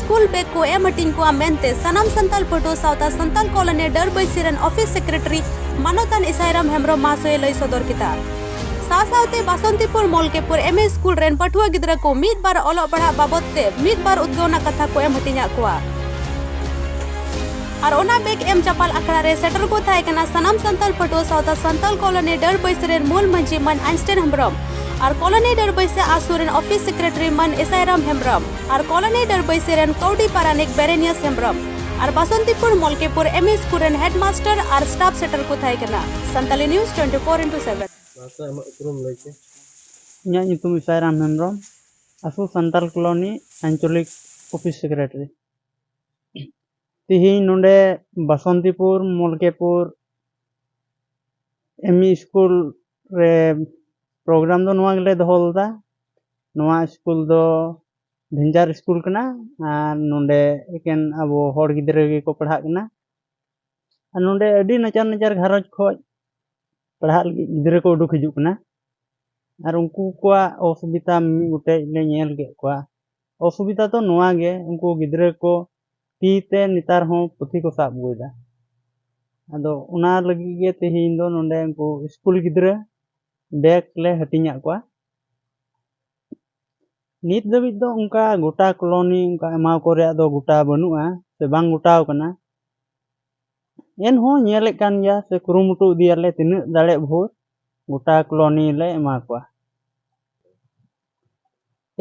school bag ᱠᱚ ᱮᱢ ᱦᱟᱹᱴᱤᱧ ᱠᱚᱜᱼᱟ ᱢᱮᱱᱛᱮ ᱥᱟᱱᱟᱢ ᱥᱟᱱᱛᱟᱞ ᱯᱟᱹᱴᱷᱩᱣᱟᱹ ᱥᱟᱶᱛᱟ ᱥᱟᱱᱛᱟᱞ ᱠᱚᱞᱚᱱᱤ ᱰᱟᱹᱨᱵᱟᱹᱭ ᱥᱤᱨᱮᱱ ᱚᱯᱷᱤᱥ ᱥᱮᱠᱨᱮᱴᱟᱨᱤ ᱢᱟᱱᱚᱛᱟᱱ ᱤᱥᱟᱭᱨᱟᱢ ᱦᱮᱢᱵᱨᱚᱢ ᱢᱟᱦᱟᱥᱚᱭ ᱞᱟᱹᱭ ᱥᱚᱫᱚᱨ ᱠᱮᱫᱟ ᱥᱟᱶ ᱥᱟᱶᱛᱮ ᱵᱟᱥᱚᱱᱛᱤᱯᱩᱨ ᱢᱚᱞᱠᱮᱯᱩᱨ ᱮᱢ ᱮ ᱥᱠᱩᱞ ᱨᱮᱱ ᱯᱟᱹᱴᱷᱩᱣᱟᱹ ᱜᱤᱫᱽᱨᱟᱹ ᱠᱚ ᱢᱤᱫ ᱵᱟᱨ ᱚᱞᱚᱜ ᱯᱟᱲᱦᱟᱜ ᱵᱟᱵᱚᱫ ᱛᱮ ᱢᱤᱫ ᱵᱟᱨ ᱩᱫᱽᱜᱟᱹᱣ ᱨᱮᱱᱟᱜ ᱠᱟᱛᱷᱟ ᱠᱚ ᱮᱢ ᱦᱟᱹᱴᱤᱧᱟᱫ ᱠᱚᱣᱟ ᱟᱨ ᱚᱱᱟ ᱵᱮᱜᱽ ᱮᱢ ᱪᱟᱯᱟᱞ ᱟᱠᱷᱲᱟ ᱨᱮ ᱥᱮᱴᱮᱨ ᱠᱚ ᱛᱟᱦᱮᱸ ᱠᱟᱱᱟ ᱥᱟᱱᱟᱢ ᱥᱟᱱᱛᱟᱞ ᱯᱟᱹᱴᱷᱩᱣᱟᱹ ᱥᱟᱶᱛᱟ ᱥᱟᱱᱛᱟᱞ ᱠᱚᱞᱚᱱᱤ ᱰᱟᱹᱨᱵᱟᱹᱭ ᱥᱤᱨᱮᱱ ᱢᱩᱞ ᱢᱟᱹᱡᱷᱤ ᱢᱟᱱ ᱟᱭᱤᱱᱥᱴᱟᱭᱤᱱ ᱦᱮᱢᱵᱨᱚᱢ ᱟᱨ ᱠᱚᱞᱚᱱᱤ ᱰᱟᱹᱨᱵᱟᱹᱭ ᱥᱮ ᱟᱥᱩ ᱨᱮᱱ ᱚᱯᱷᱤᱥ ᱥᱮᱠᱨᱮᱴᱟᱨᱤ ᱢᱟᱱ ᱤᱥᱟᱭᱨᱟᱢ ᱦᱮᱢᱵᱨᱚᱢ ᱟᱨ ᱠᱚᱞᱚᱱᱤ ᱰᱟᱹᱨᱵᱟᱹᱭᱥᱤ ᱨᱮᱱ ᱠᱟᱹᱣᱰᱤ ᱯᱟᱨᱟᱱᱤᱠ ᱵᱮᱨᱮᱱᱤᱭᱟᱥ ᱦᱮᱢᱵᱨᱚᱢ ᱟᱨ Basantipur Malkepur M E school ᱨᱮᱱ ᱦᱮᱰᱢᱟᱥᱴᱟᱨ ᱟᱨ ᱥᱴᱟᱯ ᱥᱮᱴᱟᱨ ᱠᱚ ᱛᱟᱦᱮᱸ ᱠᱟᱱᱟ Santali news twenty four into seven ᱤᱧᱟᱹᱜ ᱧᱩᱛᱩᱢ ᱤᱥᱟᱭᱨᱟᱢ ᱦᱮᱢᱵᱨᱚᱢ ᱟᱥᱚᱞ ᱥᱟᱱᱛᱟᱞ ᱠᱚᱞᱚᱱᱤ ᱟᱧᱪᱚᱞᱤᱠ ᱚᱯᱷᱤᱥ ᱥᱮᱠᱨᱮᱴᱟᱨᱤ ᱛᱮᱦᱮᱧ ᱱᱚᱰᱮ Basantipur Malkepur M E school ᱨᱮ ᱯᱨᱳᱜᱨᱟᱢ ᱫᱚ ᱱᱚᱣᱟ ᱜᱮᱞᱮ ᱫᱚᱦᱚ ᱞᱮᱫᱟ ᱱᱚᱣᱟ ᱥᱠᱩᱞ ᱫᱚ ᱵᱷᱮᱱᱡᱟᱨ ᱥᱠᱩᱞ ᱠᱟᱱᱟ ᱟᱨ ᱱᱚᱰᱮ ᱮᱠᱮᱱ ᱟᱵᱚ ᱦᱚᱲ ᱜᱤᱫᱽᱨᱟᱹ ᱜᱮᱠᱚ ᱯᱟᱲᱦᱟᱜ ᱠᱟᱱᱟ ᱟᱨ ᱱᱚᱰᱮ ᱟᱹᱰᱤ ᱱᱟᱪᱟᱨ ᱱᱟᱪᱟᱨ ᱜᱷᱟᱨᱚᱸᱡᱽ ᱠᱷᱚᱡ ᱯᱟᱲᱦᱟᱜ ᱞᱟᱹᱜᱤᱫ ᱜᱤᱫᱽᱨᱟᱹ ᱠᱚ ᱩᱰᱩᱠ ᱦᱤᱡᱩᱜ ᱠᱟᱱᱟ ᱟᱨ ᱩᱱᱠᱩ ᱠᱚᱣᱟᱜ ᱚᱥᱩᱵᱤᱫᱟ ᱢᱤᱢᱤᱫ ᱜᱚᱴᱮᱡ ᱞᱮ ᱧᱮᱞ ᱠᱮᱫ ᱠᱚᱣᱟ ᱚᱥᱩᱵᱤᱫᱟ ᱫᱚ ᱱᱚᱣᱟ ᱜᱮ ᱩᱱᱠᱩ ᱜᱤᱫᱽᱨᱟᱹ ᱠᱚ ᱛᱤ ᱛᱮ ᱱᱮᱛᱟᱨ ᱦᱚᱸ ᱯᱩᱛᱷᱤ ᱠᱚ ᱥᱟᱵ ᱟᱹᱜᱩᱭᱮᱫᱟ ᱟᱫᱚ ᱚᱱᱟ ᱞᱟᱹᱜᱤᱫ ᱜᱮ ᱛᱮᱦᱮᱧ ᱫᱚ ᱱᱚᱰᱮ ᱩᱱᱠᱩ ᱥᱠᱩᱞ ᱜᱤᱫᱽᱨᱟᱹ ᱵᱮᱜᱽ ᱞᱮ ᱦᱟᱹᱴᱤᱧᱟᱜ ᱠᱚᱣᱟ ᱱᱤᱛ ᱫᱷᱟᱹᱵᱤᱡ ᱫᱚ ᱚᱱᱠᱟ ᱜᱚᱴᱟ ᱠᱚᱞᱚᱱᱤ ᱚᱱᱠᱟ ᱮᱢᱟᱣ ᱠᱚ ᱨᱮᱭᱟᱜ ᱫᱚ ᱜᱚᱴᱟ ᱵᱟᱹᱱᱩᱜᱼᱟ ᱥᱮ ᱵᱟᱝ ᱜᱚᱴᱟᱣ ᱠᱟᱱᱟ ᱮᱱᱦᱚᱸ ᱧᱮᱞᱮᱫ ᱠᱟᱱ ᱜᱮᱭᱟ ᱥᱮ ᱠᱩᱨᱩᱢᱩᱴᱩ ᱤᱫᱤᱭᱟᱞᱮ ᱛᱤᱱᱟᱹᱜ ᱫᱟᱲᱮᱜ ᱵᱷᱳᱨ ᱜᱚᱴᱟ ᱠᱚᱞᱚᱱᱤ ᱞᱮ ᱮᱢᱟ ᱠᱚᱣᱟ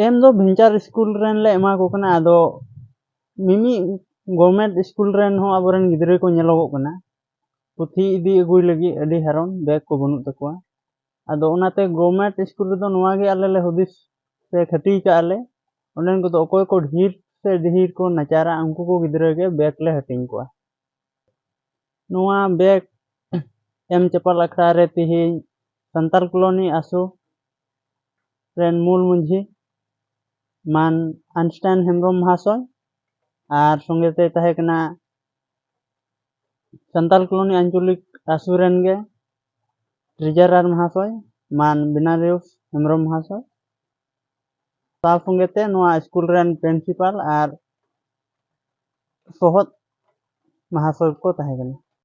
ᱮᱢ ᱫᱚ ᱵᱷᱮᱱᱪᱟᱨ ᱤᱥᱠᱩᱞ ᱨᱮᱱ ᱞᱮ ᱮᱢᱟ ᱠᱚ ᱠᱟᱱᱟ ᱟᱫᱚ ᱢᱤᱢᱤᱫ ᱜᱚᱨᱢᱮᱱᱴ ᱤᱥᱠᱩᱞ ᱨᱮᱱ ᱦᱚᱸ ᱟᱵᱚ ᱨᱮᱱ ᱜᱤᱫᱽᱨᱟᱹ ᱠᱚ ᱧᱮᱞᱚᱜᱚᱜ ᱠᱟᱱᱟ ᱯᱩᱛᱷᱤ ᱤᱫᱤ ᱟᱹᱜᱩᱭ ᱞᱟᱹᱜᱤᱫ ᱟᱹᱰᱤ ᱦᱟᱨᱚᱱ ᱵᱮᱜᱽ ᱠᱚ ᱵᱟᱹᱱᱩᱜ ᱛᱟᱠᱚᱣᱟ ᱟᱫᱚ ᱚᱱᱟᱛᱮ ᱜᱚᱨᱢᱮᱱᱴ ᱤᱥᱠᱩᱞ ᱨᱮᱫᱚ ᱱᱚᱣᱟ ᱜᱮ ᱟᱞᱮ ᱞᱮ ᱦᱩᱫᱤᱥ ᱥᱮ ᱠᱷᱟᱹᱴᱤ ᱠᱟᱜᱼᱟ ᱞᱮ ᱚᱸᱰᱮᱱ ᱠᱚᱫᱚ ᱚᱠᱚᱭ ᱠᱚ ᱰᱷᱮᱨ ᱥᱮ ᱰᱷᱮᱨ ᱠᱚ ᱱᱟᱪᱟᱨᱟ ᱩᱱᱠᱩ ᱠᱚ ᱜᱤᱫᱽᱨᱟᱹ ᱜᱮ ᱵᱮᱜᱽ ᱞᱮ ᱦᱟᱹᱴᱤᱧ ᱠᱚᱣᱟ ᱱᱚᱣᱟ ᱵᱮᱜᱽ ᱮᱢ ᱪᱟᱯᱟᱞ ᱟᱠᱷᱲᱟ ᱨᱮ ᱛᱮᱦᱮᱧ ᱥᱟᱱᱛᱟᱲ ᱠᱚᱞᱳᱱᱤ ᱟᱥᱚ ᱨᱮᱱ ᱢᱩᱞ ᱢᱟᱺᱡᱷᱤ ᱢᱟᱱ ᱟᱱᱥᱴᱟᱭᱤᱱ ᱦᱮᱢᱵᱨᱚᱢ ᱢᱚᱦᱟᱥᱚᱭ ᱟᱨ ᱥᱚᱸᱜᱮ ᱛᱮ ᱛᱟᱦᱮᱸ ᱠᱟᱱᱟ ᱥᱟᱱᱛᱟᱞ ᱠᱚᱞᱚᱱᱤ ᱟᱧᱪᱚᱞᱤᱠ ᱟᱥᱩ ᱨᱮᱱ ᱜᱮ ᱴᱨᱮᱡᱟᱨᱟᱨ ᱢᱚᱦᱟᱥᱚᱭ ᱢᱟᱱ ᱵᱤᱱᱟᱨᱤᱭᱚ ᱦᱮᱢᱵᱨᱚᱢ ᱢᱚᱦᱟᱥᱚᱭ ᱥᱟᱶ ᱥᱚᱸᱜᱮ ᱛᱮ ᱱᱚᱣᱟ ᱥᱠᱩᱞ ᱨᱮᱱ ᱯᱨᱤᱱᱥᱤᱯᱟᱞ ᱟᱨ ᱥᱚᱦᱚᱫ ᱢᱚᱦᱟᱥᱚᱭ ᱠᱚ ᱛᱟᱦᱮᱸ ᱠᱟᱱᱟ